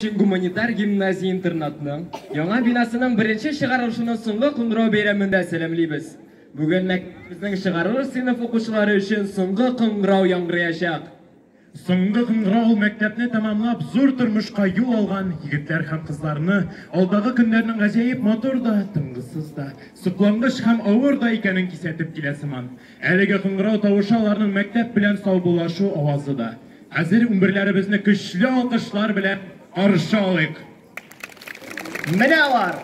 Гуманитар гимназия-интернатның яңа бинасының беренче чыгарылышының соңгы кыңгырау бәйрәмендә сәламлибез. Бүген мәктәбебезнең чыгарылыш сыйныф укучылары өчен соңгы кыңгырау яңгыраячак. Соңгы кыңгырау ул мәктәпне тәмамлап, зур тормышка юл алган егетләр һәм кызларны, алдагы көннәрнең гаҗәеп матур да, тынгысыз да, соклангыч һәм авыр да икәнен кисәтеп килә сыман. Әлеге кыңгырау тавышы аларның мәктәп белән саубуллашу авазы да. Хәзер унберләребезне көчле алкышлар белән каршы алыйк! Менә алар!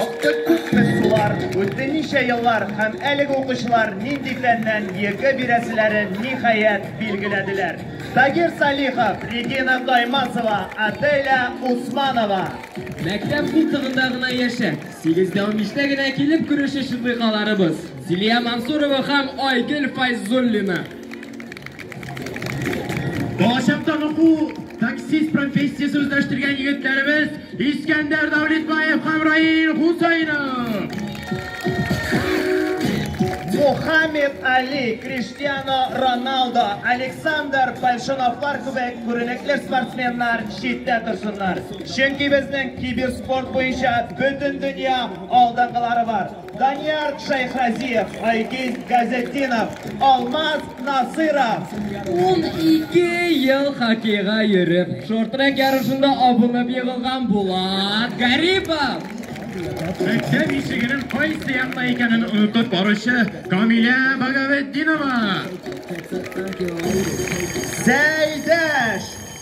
Акты күпме сулар, үтте ничә еллар һәм әлеге укучылар нинди фәннән ЕГЭ бирәселәрен, ниһаять, билгеләделәр. Тагир Салихов, Регина Таймасова, Аделя Усманова. Мәктәп култыгында гына яшә! Сигездә унбиштә генә килеп керүче шундыйкаларыбыз, Зилия Мансурова һәм Айгөл Файзуллина. Балачактагы бу таксист профессиясе үзләштергән егетләребез Искәндәр Дәүлетбаев һәм Раил Хусәйнов. Мухаммед Али, Криштиано Роналдо, Александр Большуновлар кебек күренекле спортсменнар читтә торсыннар. Чөнки безнең киберспорт буенча бөтендөнья алдынгылары бар. Данияр Шәйхразиев, Айгиз Газетдинов, Алмаз Насыйров. Унике ел хоккейга йөреп, шорт-трек ярышында абынып егылган Булат Гарипов. Мәктәп ишегенең кайсы якта икәнен онытып баручы Камилә Багаветдинова. Сәйдәш!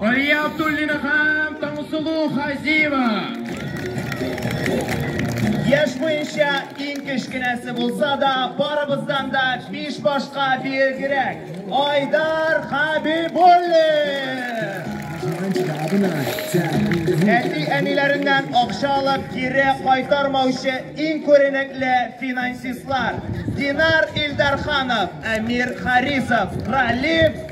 Алия Абдуллина һәм Таңсылу Хазиева. Яшь буенча иң кечкенәсе булса да, барыбыздан да биш башка биегрәк. Айдар Хабибуллин! Әти әниләреннән акча алып кире кайтармаучы иң күренекле финансистлар Динар Илдарханов, Әмир Харисов, Ралиф